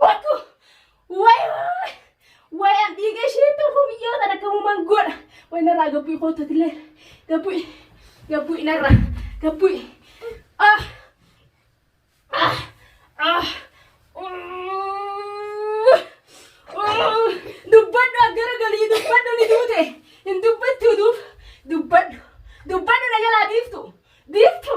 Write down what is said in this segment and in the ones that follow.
Watu! Way way! Way an dhiiga ishee tolfuu biyyoo tan akka uumaan godha. Way narraa gabbu'i kootu atillee. Gabbu'i. Gabbu'i narraa. Gabbu'i. Ah! Ah! Ah! Uuuh! Uuuh! Dubbadhu as gara galii dubbadhu ni duute. Hin dubbattu duuf. Dubbadhu. Dubbadhu na jalaa biiftu. Biiftu.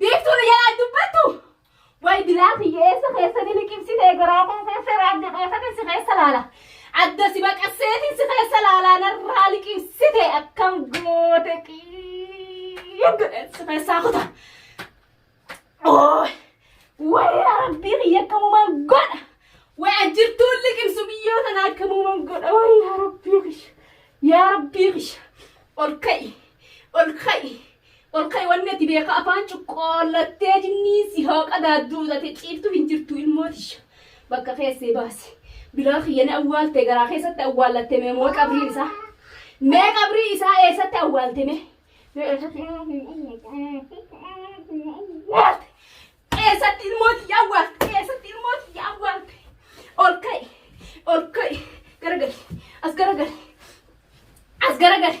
Biiftuu nu jalaa dubbattu. Way bilaa kiyya eessa keessanii liqimsitee garaa koo keessa raadda keessatiin si keessa laala. Adda si baqasseetiin si keessa laalaa narraa liqimsite akkam goote qiiggodhe si keessaa kuta. Ooy! Way yaa rabbii kiyya akkamumaan godha. Way ajjirtuun liqimsu biyyoo tana akkamumaan godha. Way yaa rabbii kiyya. Yaa rabbii kiyya. Ol ka'i. Ol ka'i. Ol ka'i wanni ati beeka afaan cuqqoollattee jinniin si haa qadaadduu tate ciiftu hin jirtu ilmoo tiyya bakka keessee baasi bilaa kiyya ni awwaalte garaa keessatti awwaallatte mee moo qabriin isaa mee qabrii isaa eessatti awwaalte mee mee eessatti awwaalte eessatti ilmoo tiyya awwaalte eessatti ilmoo tiyya awwaalte ol ka'i ol ka'i garagali as garagali as garagali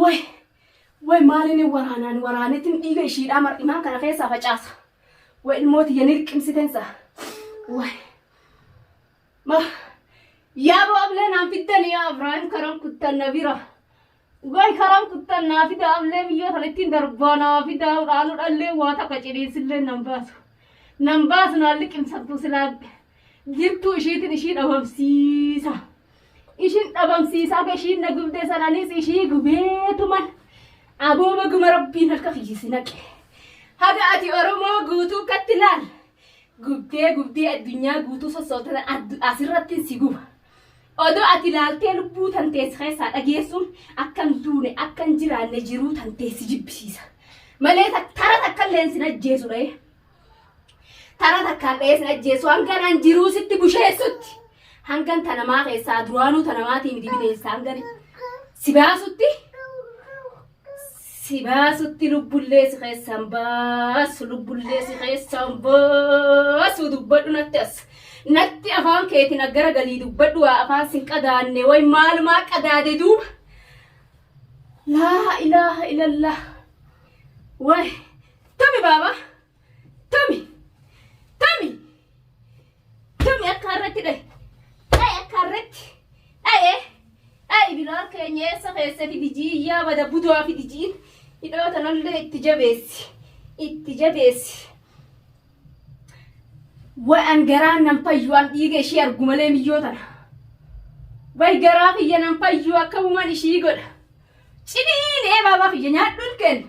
Way way maalini waraanaan waraanetin dhiiga ishiidhaa mar'imaan kana keessaa facaasa. Way ilmooti ya nirqimsitensa. Way. Ma yaa baablee naan fiddan yaa Ibraahim karaan kuttan na bira. Way karaan kuttan naa fida ablee biyya kana ittiin darbaa naa fida dhaanu dhallee waa takka ciniinsillee nan baasu. Nan baasu naan liqimsattu silaa jirtuu ishiitin ishii dhabamsiisa. ishin dhabamsiisaa ka ishiin na gubde sananis ishii gubeetuman aboo baguma rabbiin harka kiyyisi naqe haga ati oromoo guutuu katti laal gubdee gubdee addunyaa guutuu sossootana addu- asirratti si guba odoo ati laaltee lubbuu tanteessi keessaa dhageessuun akkan duune akkan jiraanne jiruu tanteessi jibbisiisa malee ta- tara takka illee sin ajjeesudha Tara takkaan dha'ee sin ajjeesu hangan an jiruu sitti busheessutti. Hangan ta namaa keessaa duraanuu ta namaatii miti bineensa hangan si baasutti. Si baasutti lubbullee si keessaan baasu lubbullee si keessaan baasu dubbadhu natti as. Natti afaan keetiin aggara galii dubbadhu waa afaan sin qadaanne way maalumaa qadaade duuba. Laa ilaaha ilallah. Way. Tami baaba. Tami. Tami. Tami akka harreetti dhayi. Dhayi akka harreetti. Dhaye. Dhayi bilaal keenya eessa keessa fidi jiiyyaa bada budaa fidi jiin. Hidhoo tanallee itti jabeessi. Itti jabeessi. Waan garaan nan fayyu an dhiiga ishee argu malee miyyoo tana. Way garaa kiyya nan fayyu akka uuman ishii godha. Ciniinee baabaa kiyya nyaadhuun kenna.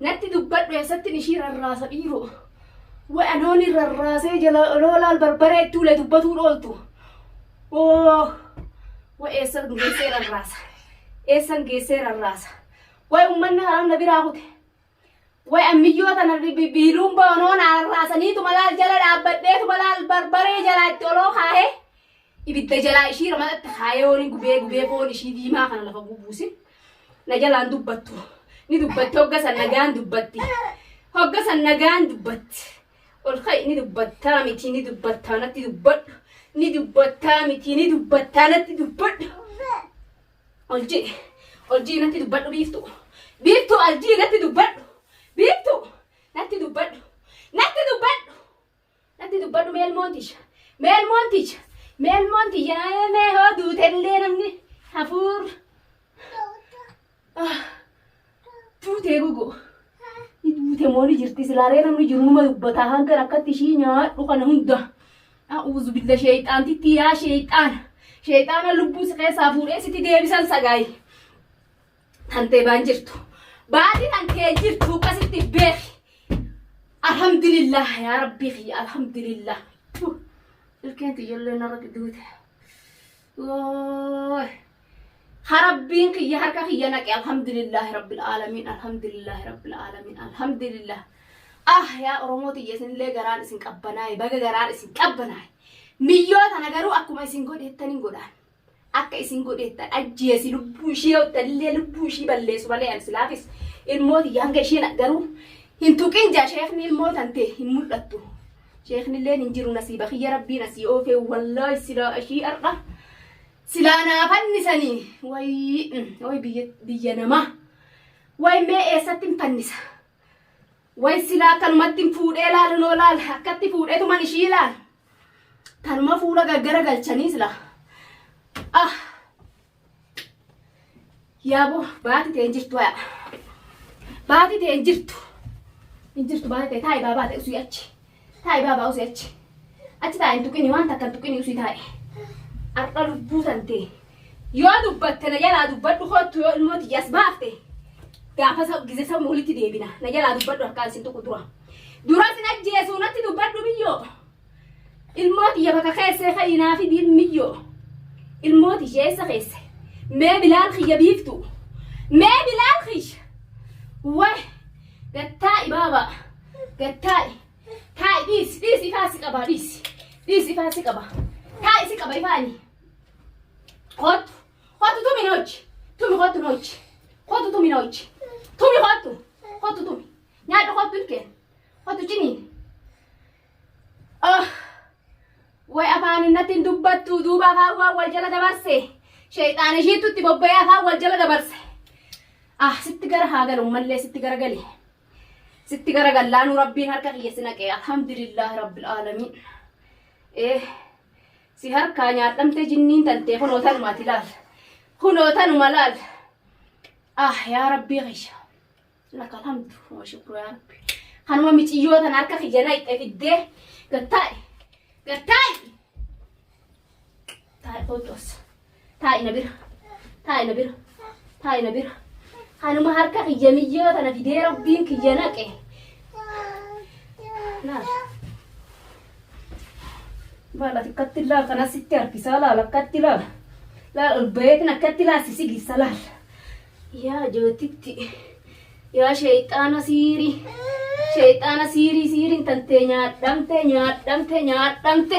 Natti dubbadhu eessattin ishii rarraasa dhiiroo. Way anooni rarraasee jala loolaal barbaree itti ulee dubbatuu dhooltu. Oo way eessan geessee rarraasa. Eessan geessee rarraasa. Way ummanni haram na biraa kute. Way ammiyyoo tana bi- bi- biiluun ba'onoon rarraasaniitu malaal jala dhaabbadheetu malaal barbaree jala itti oloo kaahee. Ibidda jalaa ishii ramadatte kaayooni gubee gubee foon ishii diimaa kana lafa gubuusin na jalaan dubbattu ni dubbatti hogga san nagaan dubbatti hogga san nagaan dubbatti ol ka'i ni dubbattaa miti ni dubbattaa natti dubbadhu ni dubbattaa miti ni dubbattaa natti dubbadhu ol ji'i ol ji'i natti dubbadhu biiftu biiftu ol ji'i natti dubbadhu biiftu natti dubbadhu natti dubbadhu Natti dubbadhu meel moonticha. Meel moonticha. Meel moonticha namee mee hoo duutellee namni hafuur. Ah, Duutee gogoo. Ni duute moo ni jirti silaaree namni jiru numa dubbataa hanga rakkatti ishii nyaadhu kana hunda. A'uuzu billa sheeyxaantitti yaa sheeyxaana. Sheeyxaana lubbuu si keessaa fuudhee sitti deebisan sagaayi. Tantee baan jirtu. Baati tantee jirtu akkasitti beeki. Alhamdulillah yaa rabbii kiyya alhamdulillah. Puh, Ilkeen tiyyollee narratti duute. Wooy. Ha rabbiin kiyya harka kiyya naqe alhamdulillah rabbil aalamiin alhamdulillah rabbil aalamiin alhamdulillah. Ah yaa Oromoo tiyya isinillee garaan isin qabbanaa'e baga garaan isin qabbanaa'e. Miyyoo tana garuu akkuma isin godheettan hin godhaan. akka isin godheettan ajjeesi lubbuu ishii yoo ittanillee lubbuu ishii balleessu malee an silaafis ilmoo tiyya hanga isheen garuu hin tuqin jaa sheekni ilmoo tante hin mul'attu sheeknilleen hin jiru nasiiba kiyya rabbiin asii oofee wallaahi silaa ishii har'a silaa naa fannisanii wayi wayi biyya biyya namaa wayi mee eessatti hin fannisa Way silaa akkanumattin fuudhee laalu noo laal akkatti fuudhetuman ishii laal tanuma fuula gaggara galchanii sila ah yaabo baati ta'e hin jirtu aya baati ta'e hin jirtu hin jirtu baati ta'e taa'i baa baate usii achi Taa'i baabaa usii achi. Achi taa'i hin tuqini waan takka hin tuqini usii taa'i. Har'a lubbuu tantee. Yoo dubbatte na jalaa dubbadhu kottu yoo ilmoo tiyyaas baafte. Gaafa sa- gizee sabni walitti deebina. Na jalaa dubbadhu harkaan sin tuqu dura. Dura sin ajjeesuu natti dubbadhu biyyoo. Ilmoo tiyya bakka keessee fayyinaa fi diin miyyoo. Ilmoo tiyya eessa keesse? Mee bilaal kiyya biiftu. Mee bilaal kiyya. Wai. Gattaa ibaabaa. Gad taa'i. Taa'i dhiisi. Dhiisi ifaa si qabaa dhiisi. Dhiisi ifaa si qabaa. Taa'i si qaba ifaani. Kottu. Kottu tumi na hojji. Tumi kottu na hojji. Kottu tumi na hojji. Tumi kottu. Kottu tumi. Nyaadhu kottu hin kenna. Kottu ciniin. Oh. Way afaan innatti hin dubbattu duuba afaan waan wal jala dabarse. Sheexaan ishiittu itti bobba'ee afaan wal jala dabarse. Ah sitti gara haa galu mallee sitti gara galee. sitti gara gallaanuu rabbiin harka kiyya si naqee alhamdulillah rabbil aalamiin ee si harkaa nyaadhamtee jinniin tantee kunoo tanumaati laal kunoo tanuma laal ah yaa rabbii kiyya laka alhamdu wa shukru yaa rabbi kanuma miciyyoo tan harka kiyya naqxe fiddee gattaa'i gattaa'i Taa'i kootu as. Taa'i na bira. Taa'i na bira. Taa'i na bira. Kanuma harka kiyya miyyoo tana didee rabbiin kiyya naqe. Laal. Laal ati akkatti laal kana sitti harkisaa laal akkatti laal. Laal ol baheetin akkatti laal si sigisa laal. Yaa jootitti. Yaa sheexaana siirii. Sheexaana siirii siiriin tantee nyaadhamte nyaadhamte nyaadhamte.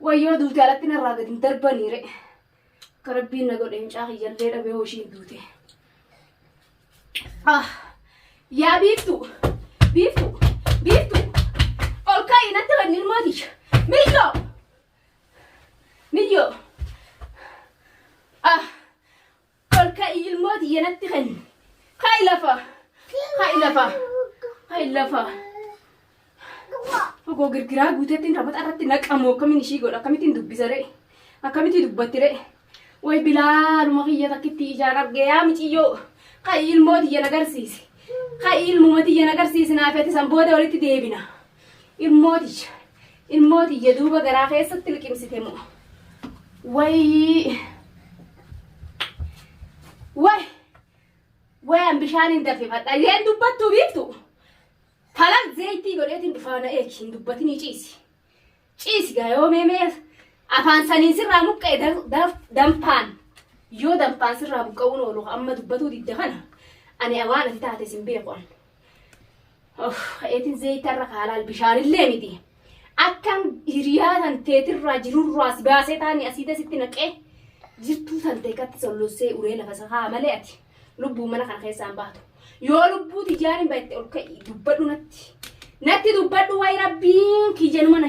Wayyoo duute alatti narraa gad hin darbanii re. Akka rabbiin na godhe mucaa kiyyallee dhabee hoo ishiin duute. Ah, yaa biiftu, biiftu, biiftu. Ol ka'i natti kan ilmoo tiyya. Miyyoo, miyyoo. Ah, Ol ka'i ilmoo tiyya natti kenni. Ka'i lafa. Ka'i lafa. Ka'i lafa. Ogoo girgiraa guuteettiin taphataa irratti naqamu akkamiin ishii godha akkamittiin dubbisa re'e akkamittiin dubbatti re'e way bilaaluma kiyya takkitti ijaan arge yaa miciyyoo ka'i ilmoo tiyya nagarsiisi ka'i ilmuma tiyya nagarsiisi naafeeti san booda walitti deebina. Ilmoo tiyya, ilmoo tiyya duuba garaa keessatti liqimsite moo. Wayii. Way. Wayan bishaan hin dafifadha. Isheen dubbattuu biiftu. Kalas zeeyitii godheetiin dhufaana eegi hin dubbatinii ciisi. Ciisi gaa yoo mee mee afaan saniin sirraa muqqa'e da- da- danfaan yoo danfaan sirraa buqqa'uun oolu amma dubbatuu didda kana ani waan ati taate sin beeku an. Of, eetiin zayita irra kaalaal bishaanillee miti. Akkan hiriyaa tan teetirraa jirurraa si baasee taani asiita sitti naqee jirtuu tan teekatti sollossee uree lafa sakaa malee ati lubbuu mana kana keessaan baatu. Yoo lubbuu tijaaniin baay'ee ol ka'i dubbadhu natti. Natti dubbadhu wayi rabbiin kiyyanuma na